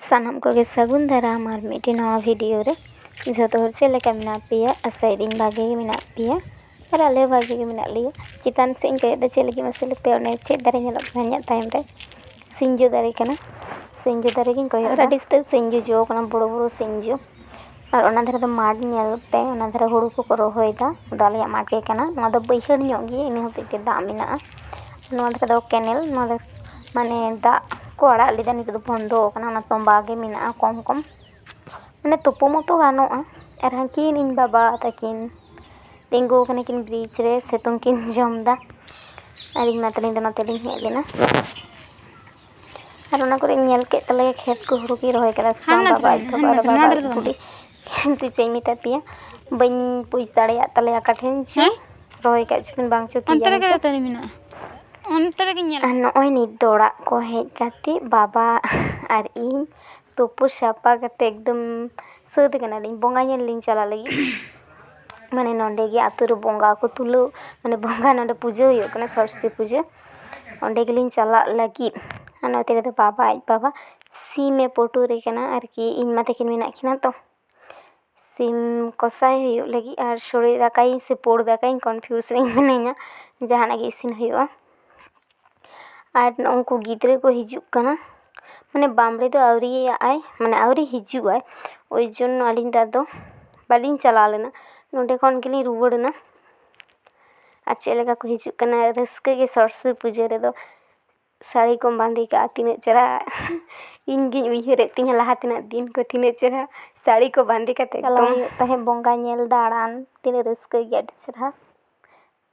ᱥᱟᱱᱟᱢ ᱠᱚᱜᱮ ᱥᱟᱹᱜᱩᱱ ᱫᱟᱨᱟᱢ ᱟᱨ ᱢᱤᱫᱴᱮᱱ ᱱᱟᱣᱟ ᱵᱷᱤᱰᱤᱭᱳ ᱨᱮ ᱡᱚᱛᱚ ᱦᱚᱲ ᱪᱮᱫ ᱞᱮᱠᱟ ᱢᱮᱱᱟᱜ ᱯᱮᱭᱟ ᱟᱥᱟᱭᱮᱫᱟᱹᱧ ᱵᱷᱟᱜᱮ ᱜᱮ ᱢᱮᱱᱟᱜ ᱯᱮᱭᱟ ᱟᱨ ᱟᱞᱮ ᱦᱚᱸ ᱵᱷᱟᱜᱮ ᱜᱮ ᱢᱮᱱᱟᱜ ᱞᱮᱭᱟ ᱪᱮᱛᱟᱱ ᱥᱮᱫ ᱤᱧ ᱠᱚᱭᱚᱜ ᱮᱫᱟ ᱪᱮᱫ ᱞᱟᱹᱜᱤᱫ ᱢᱟᱥᱮ ᱞᱟᱹᱭ ᱯᱮ ᱚᱱᱮ ᱪᱮᱫ ᱫᱟᱨᱮ ᱧᱮᱞᱚᱜ ᱠᱟᱱᱟ ᱤᱧᱟᱹᱜ ᱛᱟᱭᱚᱢ ᱨᱮ ᱥᱤᱧᱡᱚ ᱫᱟᱨᱮ ᱠᱟᱱᱟ ᱥᱤᱧᱡᱚ ᱫᱟᱨᱮ ᱜᱤᱧ ᱠᱚᱭᱚᱜ ᱮᱫᱟ ᱟᱹᱰᱤ ᱩᱥᱛᱟᱹᱨ ᱥᱤᱧᱡᱚ ᱡᱚ ᱠᱟᱱᱟ ᱵᱚᱲᱚ ᱵᱚᱲᱚ ᱥᱤᱧᱡᱚ ᱟᱨ ᱚᱱᱟ ᱫᱷᱟᱨᱮ ᱫᱚ ᱢᱟᱴᱷ ᱧᱮᱞ ᱯᱮ ᱚᱱᱟ ᱫᱷᱟᱨᱮ ᱦᱳᱲᱳ ᱠᱚᱠᱚ ᱨᱚᱦᱚᱭᱮᱫᱟ ᱚᱱᱟ ᱫᱚ ᱟᱞᱮᱭᱟᱜ ᱢᱟᱴᱷ ᱜᱮ ᱠᱟᱱᱟ ᱱᱚᱣᱟ ᱫᱚ ᱵᱟᱹᱭᱦᱟᱹᱲ ᱧᱚᱜ ᱜᱮᱭᱟ ᱤᱱᱟᱹ ᱦᱚᱛᱮᱡ ᱛᱮ ᱫᱟᱜ ᱢᱮᱱᱟᱜᱼᱟ ᱱᱚᱣᱟ ᱫᱷᱟᱨᱮ ᱫᱚ ᱠᱮᱱᱮᱞ ᱱᱚᱣᱟ ᱫᱚ ᱢᱟᱱᱮ ᱫᱟᱜ ᱠᱚ ᱟᱲᱟᱜ ᱞᱮᱫᱟ ᱱᱤᱛᱚᱜ ᱫᱚ ᱵᱚᱱᱫᱚ ᱟᱠᱟᱱᱟ ᱚᱱᱟ ᱛᱚᱢᱵᱟ ᱜᱮ ᱢᱮᱱᱟᱜᱼᱟ ᱠᱚᱢ ᱠᱚᱢ ᱢᱟᱱᱮ ᱛᱳᱯᱳ ᱢᱟᱛᱳ ᱜᱟᱱᱚᱜᱼᱟ ᱟᱨ ᱦᱟᱹᱝᱠᱤᱱ ᱤᱧ ᱵᱟᱵᱟ ᱛᱟᱹᱠᱤᱱ ᱛᱤᱸᱜᱩ ᱟᱠᱟᱱᱟ ᱠᱤᱱ ᱵᱨᱤᱡᱽ ᱨᱮ ᱥᱤᱛᱩᱝ ᱠᱤᱱ ᱡᱚᱢ ᱮᱫᱟ ᱟᱨ ᱤᱧ ᱢᱟ ᱛᱟᱹᱞᱤᱧ ᱫᱚ ᱱᱚᱛᱮ ᱞᱤᱧ ᱦᱮᱡ ᱞᱮᱱᱟ ᱟᱨ ᱚᱱᱟ ᱠᱚᱨᱮᱧ ᱧᱮᱞ ᱠᱮᱫ ᱛᱟᱞᱮᱭᱟ ᱠᱷᱮᱛ ᱠᱚ ᱦᱩᱲᱩ ᱠᱚᱭ ᱨᱚᱦᱚᱭ ᱠᱟᱫᱟ ᱥᱮ ᱵᱟᱝ ᱵᱟᱵᱟ ᱟᱡ ᱵᱟᱵᱟ ᱟᱨ ᱵᱟᱵᱟ ᱟᱡ ᱵᱩᱰᱤ ᱠᱤᱱᱛᱩ ᱪᱮᱫ ᱤᱧ ᱢᱮᱛᱟ ᱯᱮᱭᱟ ᱵᱟᱹᱧ ᱵᱩᱡᱽ ᱫᱟᱲᱮᱭᱟᱜ ᱛᱟᱞᱮᱭᱟ ᱚᱠᱟ ᱴᱷᱮᱱ ᱪᱚ ᱨᱚᱦᱚᱭ ᱠᱟᱜ ᱪᱚᱠᱤᱱ ᱵᱟᱝ ᱪᱚ ᱠᱤ ᱡᱟᱱᱤ ᱪᱚᱝ ᱟᱨ ᱱᱚᱜᱼᱚᱭ ᱱᱤᱛ ᱫᱚ ᱚᱲᱟᱜ ᱠᱚ ᱦᱮᱡ ᱠᱟᱛᱮ ᱵᱟᱵᱟ ᱟᱨ ᱤᱧ ᱛᱩᱯᱩ ᱥᱟᱯᱷᱟ ᱠᱟᱛᱮ ᱮᱠᱫᱚᱢ ᱥᱟᱹᱛ ᱠᱟᱱᱟᱞᱤᱧ ᱵᱚᱸᱜᱟ ᱧᱮᱞ ᱞᱤᱧ ᱪᱟᱞᱟᱜ ᱞᱟᱹᱜᱤᱫ ᱢᱟᱱᱮ ᱱᱚᱸᱰᱮ ᱜᱮ ᱟᱛᱳ ᱨᱮ ᱵᱚᱸᱜᱟ ᱠᱚ ᱛᱩᱞᱟᱹᱣ ᱢᱟᱱᱮ ᱵᱚᱸᱜᱟ ᱱᱚᱸᱰᱮ ᱯᱩᱡᱟᱹ ᱦᱩᱭᱩᱜ ᱠᱟᱱᱟ ᱥᱚᱨᱚᱥᱚᱛᱤ ᱯᱩᱡᱟᱹ ᱚᱸᱰᱮ ᱜᱮᱞᱤᱧ ᱪᱟᱞᱟᱜ ᱞᱟᱹᱜᱤᱫ ᱟᱨ ᱱᱚᱛᱮ ᱨᱮᱫᱚ ᱵᱟᱵᱟ ᱟᱡ ᱵᱟᱵᱟ ᱥᱤᱢᱮ ᱯᱩᱴᱩᱨ ᱮ ᱠᱟᱱᱟ ᱟᱨᱠᱤ ᱤᱧ ᱢᱟ ᱛᱟᱹᱠᱤᱱ ᱢᱮᱱᱟᱜ ᱠᱤᱱᱟ ᱛᱚ ᱥᱤᱢ ᱠᱚᱥᱟᱭ ᱦᱩᱭᱩᱜ ᱞᱟᱹᱜᱤᱫ ᱟᱨ ᱥᱳᱲᱮ ᱫᱟᱠᱟᱭᱟᱹᱧ ᱥᱮ ᱯᱩᱲ ᱫᱟᱠᱟᱭᱟᱹᱧ ᱠᱚᱱᱯᱷᱤᱭᱩᱥ ᱨᱤᱧ ᱢᱤᱱᱟᱹᱧᱟ ᱡᱟᱦᱟᱱᱟᱜ ᱜᱮ ᱤᱥᱤᱱ ᱦᱩᱭᱩᱜᱼᱟ ᱟᱨ ᱩᱱᱠᱩ ᱜᱤᱫᱽᱨᱟᱹ ᱠᱚ ᱦᱤᱡᱩᱜ ᱠᱟᱱᱟ ᱢᱟᱱᱮ ᱵᱟᱢᱲᱮ ᱫᱚ ᱟᱹᱣᱨᱤᱭᱟᱜ ᱟᱭ ᱢᱟᱱᱮ ᱟᱹᱣᱨᱤ ᱦᱤᱡᱩᱜ ᱟᱭ ᱳᱭ ᱡᱚᱱᱱᱚ ᱟᱹᱞᱤᱧ ᱫᱚ ᱟᱫᱚ ᱵᱟᱹᱞᱤᱧ ᱪᱟᱞᱟᱣ ᱞᱮᱱᱟ ᱱᱚᱰᱮ ᱠᱷᱚᱱ ᱜᱮᱞᱤᱧ ᱨᱩᱣᱟᱹᱲ ᱮᱱᱟ ᱟᱨ ᱪᱮᱫ ᱞᱮᱠᱟ ᱠᱚ ᱦᱤᱡᱩᱜ ᱠᱟᱱᱟ ᱨᱟᱹᱥᱠᱟᱹ ᱜᱮ ᱥᱚᱨᱚᱥᱚᱛᱤ ᱯᱩᱡᱟᱹ ᱨᱮᱫᱚ ᱥᱟᱹᱲᱤ ᱠᱚᱢ ᱵᱟᱸᱫᱮ ᱠᱟᱜᱼᱟ ᱛᱤᱱᱟᱹᱜ ᱪᱮᱦᱨᱟ ᱤᱧ ᱜᱮᱧ ᱩᱭᱦᱟᱹᱨᱮᱜ ᱛᱤᱧᱟᱹ ᱞᱟᱦᱟ ᱛᱮᱱᱟᱜ ᱫᱤᱱ ᱠᱚ ᱛᱤᱱᱟᱹᱜ ᱪᱮᱦᱨᱟ ᱥᱟᱹᱲᱤ ᱠᱚ ᱵᱟᱸᱫᱮ ᱠᱟᱛᱮ ᱪᱟᱞᱟᱣ ᱦᱩᱭᱩᱜ ᱛᱟᱦᱮᱸᱜ ᱵᱚᱸᱜᱟ ᱧᱮᱞ ᱫᱟᱬᱟᱱ ᱛᱤᱱᱟᱹᱜ ᱨᱟᱹᱥᱠᱟᱹ ᱜᱮ ᱟᱹᱰᱤ ᱪᱮᱦᱨᱟ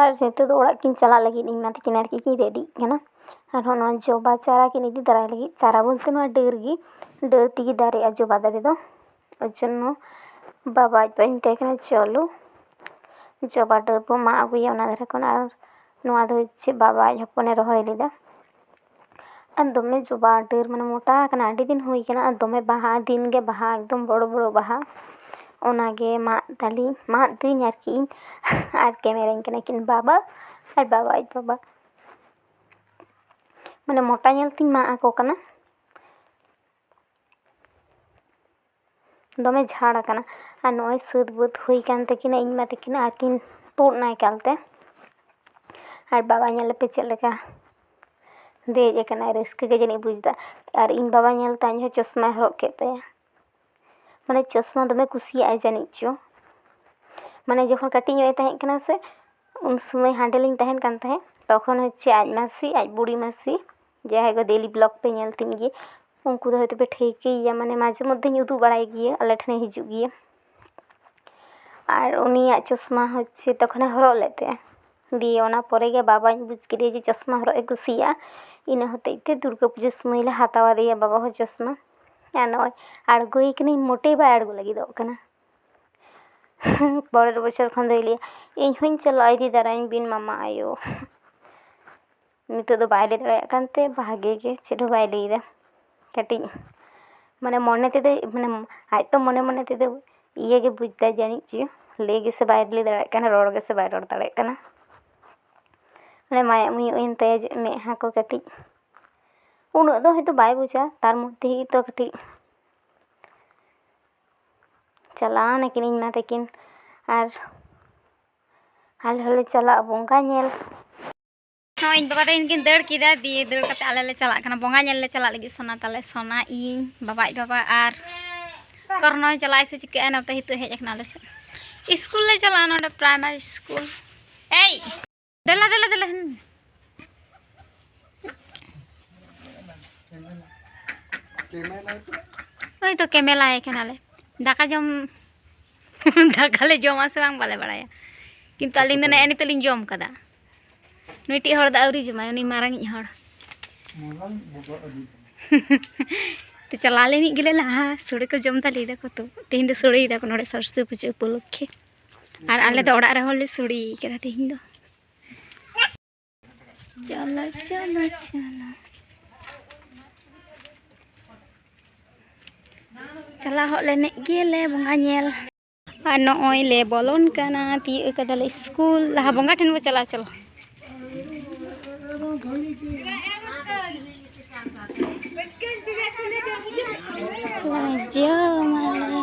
ᱟᱨ ᱱᱤᱛᱚᱜ ᱫᱚ ᱚᱲᱟᱜ ᱠᱤᱱ ᱪᱟᱞᱟᱜ ᱞᱟᱹᱜᱤᱫ ᱤᱧ ᱢᱟ ᱛᱟᱹᱠᱤᱱ ᱟᱨᱠᱤ ᱠᱤᱱ ᱨᱮᱰᱤᱜ ᱠᱟᱱᱟ ᱟᱨᱦᱚᱸ ᱱᱚᱣᱟ ᱡᱚᱵᱟ ᱪᱟᱨᱟ ᱠᱤᱱ ᱤᱫᱤ ᱛᱟᱨᱟᱭ ᱞᱟᱹᱜᱤᱫ ᱪᱟᱨᱟ ᱵᱚᱞᱛᱮ ᱱᱚᱣᱟ ᱰᱟᱹᱨ ᱜᱮ ᱰᱟᱹᱨ ᱛᱮᱜᱮ ᱫᱟᱨᱮᱜᱼᱟ ᱡᱚᱵᱟ ᱫᱟᱨᱮ ᱫᱚ ᱳᱭ ᱡᱚᱱᱱᱚ ᱵᱟᱵᱟ ᱟᱡ ᱵᱟᱵᱟᱭ ᱢᱮᱛᱟᱭ ᱠᱟᱱᱟ ᱪᱚᱞᱚ ᱡᱚᱵᱟ ᱰᱟᱹᱨ ᱵᱚᱱ ᱢᱟᱜ ᱟᱹᱜᱩᱭᱟ ᱚᱱᱟ ᱫᱷᱟᱨᱮ ᱠᱷᱚᱱ ᱟᱨ ᱱᱚᱣᱟ ᱫᱚ ᱪᱮᱫ ᱵᱟᱵᱟ ᱟᱡ ᱦᱚᱯᱚᱱᱮ ᱨᱚᱦᱚᱭ ᱞᱮᱫᱟ ᱟᱨ ᱫᱚᱢᱮ ᱡᱚᱵᱟ ᱰᱟᱹᱨ ᱢᱟᱱᱮ ᱢᱳᱴᱟ ᱟᱠᱟᱱᱟ ᱟᱹᱰᱤ ᱫᱤᱱ ᱦᱩᱭ ᱠᱟᱱᱟ ᱟᱨ ᱫᱚᱢᱮ ᱵᱟᱦᱟ ᱫᱤᱱ ᱜᱮ ᱵᱟᱦᱟ ᱮᱠᱫᱚᱢ ᱵᱚᱲᱚ ᱵᱚᱲᱚ ᱵᱟᱦᱟ ᱚᱱᱟᱜᱮ ᱢᱟᱜ ᱫᱟᱞᱤᱧ ᱢᱟᱜ ᱫᱟᱹᱧ ᱟᱨᱠᱤ ᱤᱧ ᱟᱨ ᱠᱮᱢᱮᱨᱟ ᱤᱧ ᱠᱟᱱᱟᱭ ᱠᱤᱱ ᱵᱟᱵᱟ ᱟᱨ ᱵᱟᱵᱟ ᱟᱡ ᱵᱟᱵᱟ ᱢᱟᱱᱮ ᱢᱳᱴᱟ ᱧᱮᱞ ᱛᱤᱧ ᱢᱟᱜ ᱟᱠᱚ ᱠᱟᱱᱟ ᱫᱚᱢᱮ ᱡᱷᱟᱲ ᱟᱠᱟᱱᱟ ᱟᱨ ᱱᱚᱜᱼᱚᱭ ᱥᱟᱹᱛ ᱵᱟᱹᱛ ᱦᱩᱭ ᱠᱟᱱ ᱛᱟᱹᱠᱤᱱᱟ ᱤᱧ ᱢᱟ ᱛᱟᱹᱠᱤᱱ ᱟᱹᱠᱤᱱ ᱛᱩᱫ ᱮᱱᱟ ᱮᱠᱟᱞ ᱛᱮ ᱟᱨ ᱵᱟᱵᱟ ᱧᱮᱞᱮᱯᱮ ᱪᱮᱫ ᱞᱮᱠᱟ ᱫᱮᱡ ᱟᱠᱟᱱᱟᱭ ᱨᱟᱹᱥᱠᱟᱹ ᱜᱮ ᱡᱟᱹᱱᱤᱡ ᱵᱩᱡᱫᱟ ᱟᱨ ᱤᱧ ᱵᱟᱵᱟ ᱧᱮᱞᱛᱮ ᱟᱡ ᱦᱚᱸ ᱪᱚᱥᱢᱟᱭ ᱦᱚᱨᱚᱜ ᱠᱮᱫ ᱛᱟᱭᱟ ᱢᱟᱱᱮ ᱪᱚᱥᱢᱟ ᱫᱚᱢᱮ ᱠᱩᱥᱤᱭᱟᱜ ᱟᱭ ᱡᱟᱹᱱᱤᱡ ᱪᱚ ᱢᱟᱱᱮ ᱡᱚᱠᱷᱚᱱ ᱠᱟᱹᱴᱤᱡ ᱧᱚᱜ ᱮ ᱛᱟᱦᱮᱸ ᱠᱟᱱᱟ ᱥᱮ ᱩᱱ ᱥᱚᱢᱚᱭ ᱦᱟᱸᱰᱮ ᱞᱤᱧ ᱛᱟᱦᱮᱱ ᱠᱟᱱ ᱛᱟᱦᱮᱸᱜ ᱛᱚᱠᱷᱚᱱ ᱦᱚᱪᱪᱷᱮ ᱟᱡ ᱢᱟᱹᱥᱤ ᱟᱡ ᱵᱩᱲᱤ ᱢᱟᱹᱥᱤ ᱡᱟᱦᱟᱸᱭ ᱫᱚ ᱰᱮᱞᱤ ᱵᱞᱚᱜᱽ ᱯᱮ ᱧᱮᱞ ᱛᱤᱧ ᱜᱮᱭᱟ ᱩᱱᱠᱩ ᱫᱚ ᱦᱳᱭᱛᱳ ᱯᱮ ᱴᱷᱟᱹᱣᱠᱟᱹᱭᱮᱭᱟ ᱢᱟᱱᱮ ᱢᱟᱡᱷᱮ ᱢᱚᱫᱽᱫᱷᱮᱧ ᱩᱫᱩᱜ ᱵᱟᱲᱟᱭ ᱜᱮᱭᱟ ᱟᱞᱮ ᱴᱷᱮᱱᱮ ᱦᱤᱡᱩᱜ ᱜᱮᱭᱟ ᱟᱨ ᱩᱱᱤᱭᱟᱜ ᱪᱚᱥᱢᱟ ᱦᱚᱪᱪᱷᱮ ᱛᱚᱠᱷᱚᱱᱮ ᱦᱚᱨᱚᱜ ᱞᱮᱫ ᱛᱟᱦᱮᱸᱜᱼᱟ ᱫᱤᱭᱮ ᱚᱱᱟ ᱯᱚᱨᱮ ᱜᱮ ᱵᱟᱵᱟᱧ ᱵᱩᱡᱽ ᱠᱮᱫᱮᱭᱟ ᱡᱮ ᱪᱚᱥᱢᱟ ᱦᱚᱨᱚᱜ ᱮ ᱠᱩᱥᱤᱭᱟᱜᱼᱟ ᱤᱱᱟᱹ ᱦᱚᱛᱮᱡ ᱛᱮ ᱫᱩᱨᱜᱟᱹ ᱯᱩᱡᱟᱹ ᱥᱚᱢᱚᱭ ᱞᱮ ᱦᱟᱛᱟᱣ ᱟᱫᱮᱭᱟ ᱵᱟᱵᱟ ᱦᱚᱸ ᱪᱚᱥᱢᱟ ᱟᱨ ᱱᱚᱜᱼᱚᱭ ᱟᱬᱜᱚᱭᱮ ᱠᱟᱹᱱᱟᱹᱧ ᱢᱳᱴᱮ ᱵᱟᱭ ᱟᱬᱜᱚ ᱞᱟᱹᱜᱤᱫᱚᱜ ᱠᱟᱱᱟ ᱯᱚᱨᱮᱨ ᱵᱚᱪᱷᱚᱨ ᱠᱷᱚᱱ ᱫᱚᱭ ᱞᱟᱹᱭᱟ ᱤᱧ ᱦᱚᱸᱧ ᱪᱟᱞᱟᱜᱼᱟ ᱤᱫᱤ ᱛᱟᱨᱟᱭᱤᱧ ᱵᱤᱱ ᱢᱟᱢᱟ ᱟᱭᱳ ᱱᱤᱛᱚᱜ ᱫᱚ ᱵᱟᱭ ᱞᱟᱹᱭ ᱫᱟᱲᱮᱭᱟᱜ ᱠᱟᱱᱛᱮ ᱵᱷᱟᱜᱮ ᱜᱮ ᱪᱮᱫ ᱦᱚᱸ ᱵᱟᱭ ᱞᱟᱹᱭᱫᱟ ᱠᱟᱹᱴᱤᱡ ᱢᱟᱱᱮ ᱢᱚᱱᱮ ᱛᱮᱫᱚᱭ ᱢᱟᱱᱮ ᱟᱡ ᱛᱚ ᱢᱚᱱᱮ ᱢᱚᱱᱮ ᱛᱮᱫᱚ ᱤᱭᱟᱹᱜᱮ ᱵᱩᱡᱽ ᱫᱟᱭ ᱡᱟᱹᱱᱤᱡ ᱪᱚ ᱞᱟᱹᱭ ᱜᱮᱥᱮ ᱵᱟᱭ ᱞᱟᱹᱭ ᱫᱟᱲᱮᱭᱟᱜ ᱠᱟᱱᱟ ᱨᱚᱲ ᱜᱮᱥᱮ ᱵᱟᱭ ᱨᱚᱲ ᱫᱟᱲᱮᱭᱟᱜ ᱠᱟᱱᱟ ᱢᱟᱱᱮ ᱢᱟᱭᱟᱜ ᱢᱩᱭᱩᱜ ᱮᱱ ᱛᱟᱭᱟ ᱢᱮᱫᱦᱟ ᱠᱚ ᱠᱟᱹᱴᱤᱡ ᱩᱱᱟᱹᱜ ᱫᱚ ᱦᱚᱭᱛᱳ ᱵᱟᱭ ᱵᱩᱡᱟ ᱛᱟᱨ ᱢᱚᱫᱽᱫᱷᱮ ᱜᱮ ᱛᱚ ᱠᱟᱹᱴᱤᱡ ᱪᱟᱞᱟᱣ ᱱᱟᱹᱠᱤᱱ ᱤᱧ ᱢᱟ ᱛᱟᱹᱠᱤᱱ ᱟᱨ ᱟᱞᱮ ᱦᱚᱸᱞᱮ ᱪᱟᱞᱟᱜᱼᱟ ᱵᱚᱸᱜᱟ ᱧᱮᱞ ᱱᱚᱜᱼᱚᱭ ᱤᱧ ᱵᱟᱵᱟ ᱛᱟᱹᱠᱤᱱ ᱠᱤᱱ ᱫᱟᱹᱲ ᱠᱮᱫᱟ ᱫᱤᱭᱮ ᱫᱟᱹᱲ ᱠᱟᱛᱮ ᱟᱞᱮ ᱞᱮ ᱪᱟᱞᱟᱜ ᱠᱟᱱᱟ ᱵᱚᱸᱜᱟ ᱧᱮᱞ ᱞᱮ ᱪᱟᱞᱟᱜ ᱞᱟᱹᱜᱤᱫ ᱥᱚᱱᱟ ᱛᱟᱞᱮ ᱥᱚᱱᱟ ᱤᱧ ᱵᱟᱵᱟ ᱟᱡ ᱵᱟᱵᱟ ᱟᱨ ᱠᱚᱨᱱᱚᱭ ᱪᱟᱞᱟᱜᱼᱟᱭ ᱥᱮ ᱪᱤᱠᱟᱹᱜᱼᱟ ᱱᱚᱛᱮ ᱦᱤᱛᱚᱜ ᱦᱮᱡ ᱟᱠᱟᱱᱟ ᱟᱞᱮ ᱥᱮᱫ ᱥᱠᱩᱞ ᱞᱮ ᱪᱟᱞᱟᱜᱼᱟ ᱱᱚᱰᱮ ᱯᱨᱟᱭᱢᱟᱨᱤ ᱥᱠᱩᱞ ᱮᱭ ᱫᱮᱞᱟ ᱫᱮᱞᱟ ᱫᱮᱞᱟ ᱱᱚᱜᱼᱚᱭ ᱛᱚ ᱠᱮᱢᱮᱞᱟᱭ ᱠᱟᱱᱟᱞᱮ ᱫᱟᱠᱟ ᱡᱚᱢ ᱫᱟᱠᱟᱞᱮ ᱡᱚᱢᱟ ᱥᱮ ᱵᱟᱝ ᱵᱟᱞᱮ ᱵᱟᱲᱟᱭᱟ ᱠᱤᱱᱛᱩ ᱟᱹᱞᱤᱧ ᱫᱚ ᱱᱮᱜᱼᱮ ᱱᱤᱛᱚᱜ ᱞᱤᱧ ᱡᱚᱢ ᱠᱟᱫᱟ ᱱᱩᱭᱴᱤᱡ ᱦᱚᱲ ᱫᱚ ᱟᱹᱣᱨᱤ ᱡᱚᱢᱟᱭ ᱩᱱᱤ ᱢᱟᱨᱟᱝᱤᱡ ᱦᱚᱲ ᱛᱚ ᱪᱟᱞᱟᱣ ᱞᱮᱱᱤᱡ ᱜᱮᱞᱮ ᱞᱟᱦᱟ ᱥᱳᱲᱮ ᱠᱚ ᱡᱚᱢ ᱫᱟ ᱞᱟᱹᱭ ᱫᱟᱠᱚ ᱛᱚ ᱛᱮᱦᱮᱧ ᱫᱚ ᱥᱳᱲᱮᱭ ᱫᱟᱠᱚ ᱱᱚᱰᱮ ᱥᱚᱨᱚᱥᱚᱛᱤ ᱯᱩᱡᱟᱹ ᱩᱯᱚᱞᱚᱠᱠᱷᱮ ᱟᱨ ᱟᱞᱮ ᱫᱚ ᱚᱲᱟᱜ ᱨᱮᱦᱚᱸ ᱞᱮ ᱥᱳᱲᱮ ᱠᱟᱫᱟ ᱛᱮᱦᱮᱧ ᱫᱚ ᱪᱚᱞᱚ ᱪᱚᱞᱚ ᱪᱚᱞᱚ ᱪᱟᱞᱟᱣ ᱦᱚᱜ ᱞᱮᱱᱮᱡ ᱜᱮᱞᱮ ᱵᱚᱸᱜᱟ ᱧᱮᱞ ᱟᱨ ᱱᱚᱜᱼᱚᱭ ᱞᱮ ᱵᱚᱞᱚᱱ ᱠᱟᱱᱟ ᱛᱤᱭᱳᱜ ᱠᱟᱫᱟᱞᱮ ᱥᱠᱩᱞ ᱞᱟᱦᱟ ᱵᱚᱸᱜᱟ ᱴᱷᱮᱱ ᱵᱚ ᱪᱟᱞᱟᱜᱼᱟ ᱪᱚᱞᱚ ᱡᱚᱢᱟᱞᱮ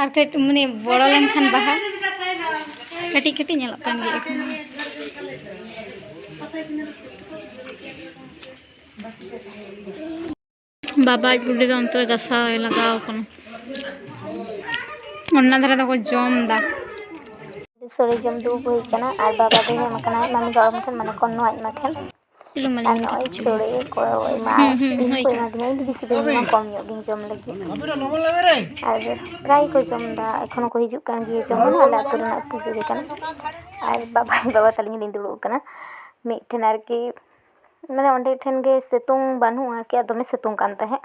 ᱟᱨ ᱠᱟᱹᱴᱤᱡ ᱢᱟᱱᱮ ᱵᱚᱲᱚ ᱞᱮᱱᱠᱷᱟᱱ ᱵᱟᱦᱟ ᱠᱟᱹᱴᱤᱡ ᱠᱟᱹᱴᱤᱡ ᱧᱮᱞᱚᱜ ᱠᱟᱱ ᱜᱮᱭᱟ ᱮᱠᱷᱚᱱ ᱵᱟᱵᱟ ᱟᱡ ᱵᱩᱰᱷᱤ ᱫᱚ ᱚᱱᱛᱮ ᱜᱟᱥᱟᱣ ᱞᱟᱜᱟᱣ ᱠᱟᱱᱟ ᱚᱱᱟ ᱫᱷᱟᱨᱮ ᱫᱚᱠᱚ ᱡᱚᱢ ᱫᱟ ᱥᱚᱲᱮ ᱡᱚᱢ ᱫᱩᱲᱩᱵ ᱦᱩᱭ ᱠᱟᱱᱟ ᱟᱨ ᱵᱟᱵᱟ ᱫᱚ ᱦᱮᱡ ᱠᱟᱱᱟᱭ ᱢᱟᱢᱤ ᱜᱚᱲᱚᱢ ᱴᱷᱮᱱ ᱢᱟᱱᱮ ᱠᱚᱱᱱᱚ ᱟᱡ ᱢᱟ ᱴᱷᱮᱱ ᱟᱨ ᱱᱚᱜᱼᱚᱭ ᱥᱳᱲᱮ ᱠᱚ ᱮᱢᱟ ᱤᱧ ᱠᱚ ᱮᱢᱟ ᱫᱤᱧᱟ ᱤᱧ ᱫᱚ ᱵᱮᱥᱤ ᱵᱟᱹᱧ ᱡᱚᱢᱟ ᱠᱚᱢ ᱧᱚᱜ ᱜᱤᱧ ᱡᱚᱢ ᱞᱟᱹᱜᱤᱫ ᱟᱨ ᱯᱨᱟᱭ ᱠᱚ ᱡᱚᱢᱫᱟ ᱮᱠᱷᱚᱱ ᱦᱚᱸᱠᱚ ᱦᱤᱡᱩᱜ ᱠᱟᱱ ᱜᱮᱭᱟ ᱡᱚᱢ ᱦᱚᱸ ᱟᱞᱮ ᱟᱹᱛᱩ ᱨᱮᱱᱟᱜ ᱯᱩᱡᱟᱹ ᱜᱮ ᱠᱟᱱᱟ ᱟᱨ ᱵᱟᱵᱟ ᱵᱟᱵᱟ ᱛᱟᱹᱞᱤᱧ ᱞᱤᱧ ᱫᱩᱲᱩᱵ ᱠᱟᱱᱟ ᱢᱤᱫᱴᱷᱮᱱ ᱟᱨᱠᱤ ᱢᱟᱱᱮ ᱚᱸᱰᱮ ᱴᱷᱮᱱ ᱜᱮ ᱥᱤᱛᱩᱝ ᱵᱟᱹᱱᱩᱜᱼᱟ ᱟᱨᱠᱤ ᱫᱚᱢᱮ ᱥᱤᱛᱩᱝ ᱠᱟᱱ ᱛᱟᱦᱮᱸᱜ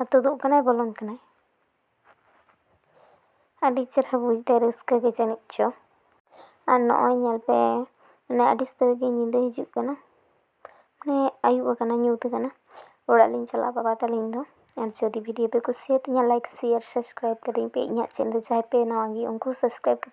ᱟᱨ ᱛᱩᱫᱩᱜ ᱠᱟᱱᱟᱭ ᱵᱚᱞᱚᱱ ᱠᱟᱱᱟᱭ ᱟᱹᱰᱤ ᱪᱮᱦᱨᱟ ᱵᱩᱡᱽ ᱫᱟᱭ ᱨᱟᱹᱥᱠᱟᱹ ᱜᱮ ᱡᱟᱹᱱᱤᱡ ᱪᱚ ᱟᱨ ᱱᱚᱜᱼᱚᱭ ᱧᱮᱞ ᱯᱮ ᱢᱟᱱᱮ ᱟᱹᱰᱤ ᱩᱥᱛᱟᱹᱨ ᱜᱮ ᱧᱤᱫᱟᱹ ᱦᱤᱡᱩᱜ ᱠᱟᱱᱟ ᱢᱟᱱᱮ ᱟᱹᱭᱩᱵ ᱟᱠᱟᱱᱟ ᱧᱩᱛ ᱟᱠᱟᱱᱟ ᱚᱲᱟᱜ ᱞᱤᱧ ᱪᱟᱞᱟᱜᱼᱟ ᱵᱟᱵᱟ ᱛᱟᱹᱞᱤᱧ ᱫᱚ ᱟᱨ ᱡᱩᱫᱤ ᱵᱷᱤᱰᱤᱭᱳ ᱯᱮ ᱠᱩᱥᱤᱭᱟᱛᱤᱧᱟ ᱞᱟᱭᱤᱠ ᱥᱮᱭᱟᱨ ᱥᱟᱵᱥᱠᱨᱟᱭᱤᱵᱽ ᱠᱟᱹᱛᱤᱧ ᱯᱮ ᱤᱧᱟᱹᱜ ᱪᱮᱱᱮᱞ ᱡᱟᱦᱟᱸᱭ ᱯᱮ ᱱᱟᱣᱟ ᱜᱮᱭᱟ ᱩᱱᱠᱩ ᱦᱚᱸ ᱥᱟᱵᱥᱠᱨᱟᱭᱤᱵᱽ ᱠᱟᱹᱛᱤᱧ